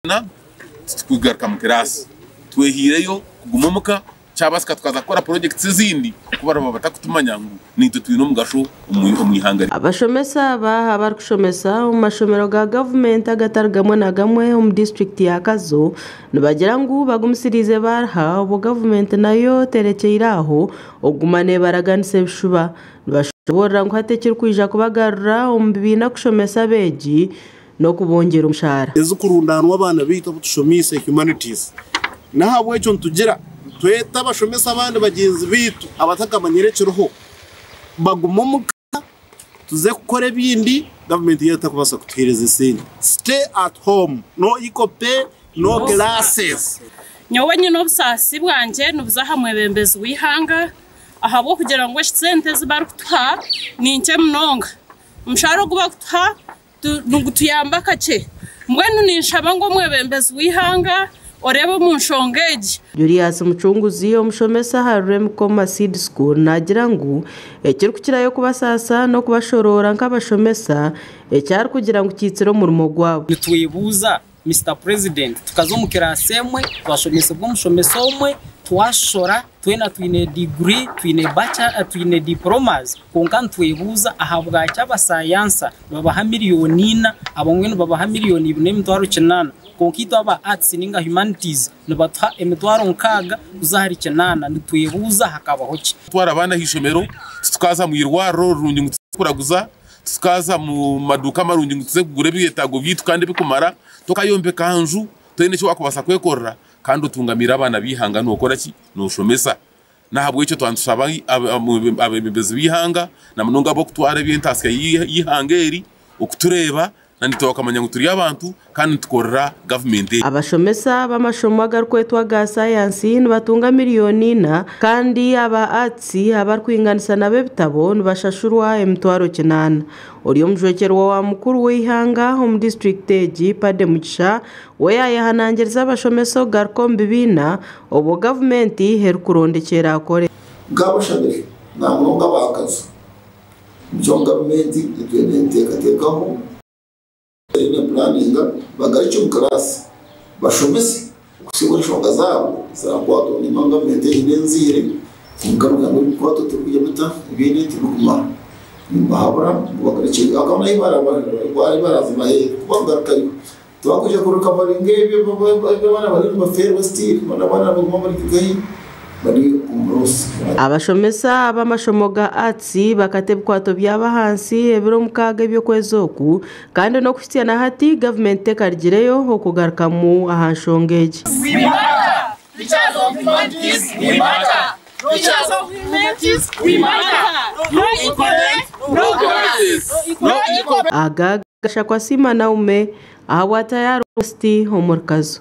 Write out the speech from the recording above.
Twona titukugaruka omu kiraasi, twehaireyo kuguma omu ka, kyabaasika tukaza kukora projects ezindi ku baraba batakutumanya ngu naitwe twine omugasho omu ihanga ryaitu. Abashomesa aba abarikushomesa omu mashomero ga gavumenti agatari gamwe na gamwe omu disiturikiti ya Kazo nibagira ngu bagumisiriize baariha obwo gavumenti nayo terekyeire aho okuguma nebaraganisa ebishuba nibashoboorora ngu hati ekirikwija kubagarura omu bibiina kushomesa abeegi n'okubongyera omushaara. Ezikurundaanwa abaana baitu abu tushomiise Humanities. N'ahabw'ekyo nitugira twete abashomesa abandi bagyenzi baitu abatakamanyire ekiriho bagume omu ka tuze kukora ebindi gavumenti yaitu etakubaasa kutuheereza esente. Stay at home, no equal pay, no classes. Nyowe nyine obusaasi bwangye nibuza aha mwebembezi w'eihanga ahabw'okugira ngu eki sente ezi barikutuha ni nkye munonga. Omushaara ogu barikutuha nigutuyamba kakye. Mbwenu ninshaba ngu omwebembezi w'eihanga oreebe omu nshonga egi. Julius Mucunguzi, omushomesa aha Ruremi Koma Seed School naagira ngu ekirikukirayo kubasaasa n'okubashoroora nk'abashomesa, eki arikugira ngu kiitsire omurimo gwabo. Nitwebuuza Mister president tukaza omu class emwe twashomesebwa omushomesa omwe twashishora twena twine degree twine bacha twine diplomas kwonka nitwebuuza ahabwaki abasayansa nibabaha million ina abamwe nibabaha million ibiri n'emitwaro kinaana kwonka itwe aba arts ninga humanities nibatuha emitwaro nkaaga kuza ahari kinaana nitwebuuza hakabaho ki. Kutwara abaana aha ishomero titukaza mu irwariro rirungi ngu tuze kuraguza Tukaza mu maduuka marungi ngu tuze kugura ebyetaago byaitu kandi ebikumara. Tokayombeka aha nju toine eki waakubaasa kwekorera kandi otungamiire abaana b'eihanga nookora ki? Nooshomesa. N'ahabw'ekyo twaba nitushaba abeebembezi b'eihanga, na munonga abarikutwara eby'entaasya y'eihanga eri okutureeba Nitwe bakamanya ngu turi abantu kandi nitukorera gavumenti egi. Abashomesa b'amashomo agarikwetwa aga sayansi nibatunga miriyoni ina kandi aba Arts abarikwinganisa nabo ebitabo nibashashurwa emitwaro kinaana. Ori omujwekyerwa wa mukuru w'eihanga omu disiturikiti egi, Paddy Mugisha, we yaayehanangiriza abashomesa okugaruka omu bibiina obwo gavumenti erikuronda ekyerakore. Nk'abashabire namunonga ab'akazu, nikyo gavumenti eriyo neeteekateekaho, eriyo neepulaaninga bagaruke omu kiraasi bashomese kuhitsya obu enshonga zaabo ziraakwatwa ngu nibamanya gavumenti egi n'enzaire kandi ngu nabwo ebikukwatwa tirikugira ota byona tibirikumara nibibahabura ngu bagarukyeyo aho ahu baraazibaheere kuba kugarukirayo Tibakwija kuruka bari nk'ebi abaana bariyo nibafeerwa still boona abaana abaguma bari nk'ahi bari omu North. Abashomesa b'amashomo ga Arts bakata ebikwato byabo ahansi ebiro mukaaga eby'okwezi oku kandi n'okuhitsya na hati gavumenti tekarigireyo okugarukamu aha nshonga egi. Aga. Gashakwa Siima Naume ahabwa Tayari West omuri Kazo.